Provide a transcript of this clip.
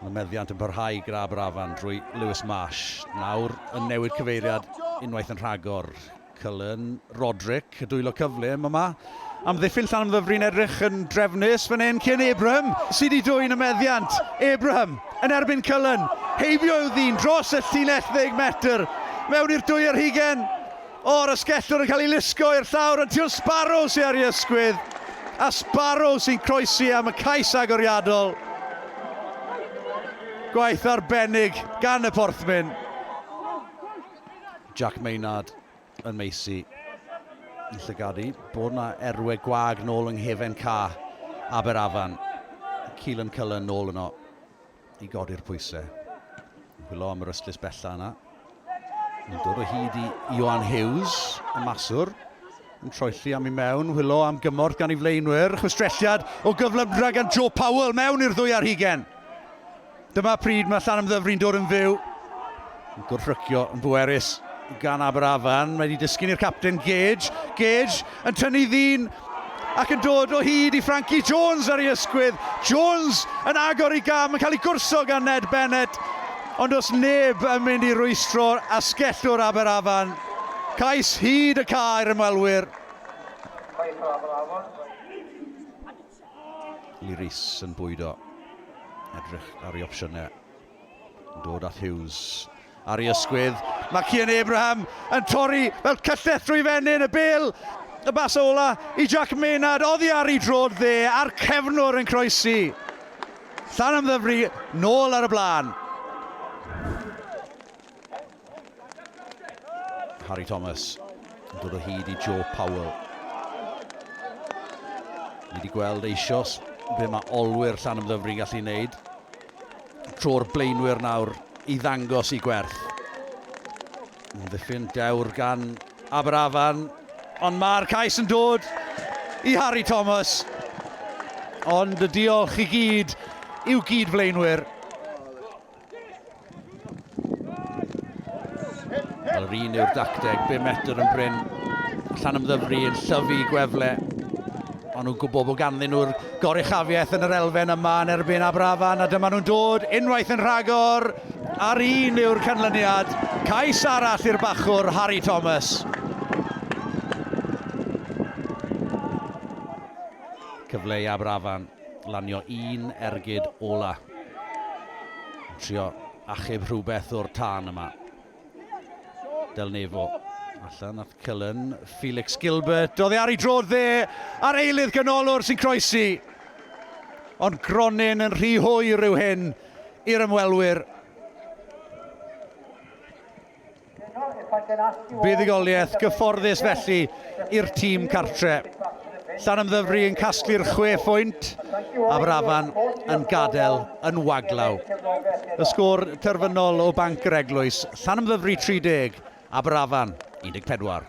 Mae meddiant yn parhau gyda Aberafan drwy Lewis Marsh. Nawr yn newid cyfeiriad unwaith yn rhagor. Cullen, Roderick, y dwylo cyflym yma. Amddiffyn Llanymddyfri'n edrych yn drefnus fan hyn cyn Abraham sydd wedi dwyn y meddiant. Abraham yn erbyn Cullen. Heibio yw ddyn dros y llinell ddeg metr mewn i'r dwy ar hugen. O'r asgellwr yn cael ei lusgo i'r llawr ond Teal Sparrow sydd ar ei ysgwydd a Sparrow sy'n croesi am y cais agoriadol. Gwaith arbennig gan y Porthmyn. Jack Maynard yn meisi yn llygadu. Bod yna erwe gwag nôl yng nghefen ca Aberafan. Keelan Cullen nôl yno. i godi'r pwysau. Hwylo am yr ystlys bella yna. Yn dod o hyd i Ioan Hughes, y maswr. Yn troelli am i mewn, hwylo am gymorth gan ei flaenwyr. Chwistrelliad o gyflymdra gan Joe Powell mewn i'r ddwy ar hugen. Dyma pryd mae Llanymddyfri'n dod yn fyw. Yn gwrthrycio yn bwerus gan Aberafan. Mae wedi disgyn i'r capten Gage. Gage yn tynnu ddyn ac yn dod o hyd i Frankie Jones ar ei ysgwydd. Jones yn agor i gam yn cael ei gwrso gan Ned Bennett. Ond os neb yn mynd i rwystro'r asgellwr Aberafan, cais hyd y cae i'r ymwelwyr. Lee Rees yn bwydo. Edrych ar ei opsiynau. Dod at Hughes. Ar ei ysgwydd, mae Cian Abraham yn torri fel cyllell drwy fenyn y bel. Y bas ola i Jack Maynard, oddi ar ei drod dde a'r cefnwr yn croesi. Llan ymddyfri, nôl ar y blaen. Harry Thomas yn dod o hyd i Joe Powell. Ni wedi gweld eisoes be mae olwyr llan ymddyfru yn gallu wneud. Tro'r blaenwyr nawr i ddangos i gwerth. Yn ddiffyn dewr gan Aberafan, ond mae'r cais yn dod i Harry Thomas. Ond y diolch i gyd i'w gyd flaenwyr. Wel, yr un yw'r dacteg, be metr yn bryn. Llan ymddyfru yn llyfu i gwefle. Ond nhw'n gwybod bod ganddyn nhw'r goruchafiaeth yn yr elfen yma yn erbyn Abrafan, a dyma nhw'n dod unwaith yn rhagor. A'r un yw'r canlyniad. Cais arall i'r bachwr, Harry Thomas. Cyfle i Abrafan. lanio un ergyd ola. Yn trio achub rhywbeth o'r tân yma. Del Nefo. Allan at Cullen, Felix Gilbert. Oedd e ar ei drodd dde a'r eilydd ganolor sy'n croesi. Ond Gronyn yn rhy hwy rhyw hyn i'r ymwelwyr. Buddugoliaeth gyfforddus felly i'r tîm cartre. Llanymddyfri yn casglu'r chwe phwynt, Aberafan yn gadael yn waglaw. Y sgôr terfynol o Banc yr Eglwys, Llanymddyfri 30, Aberafan 14.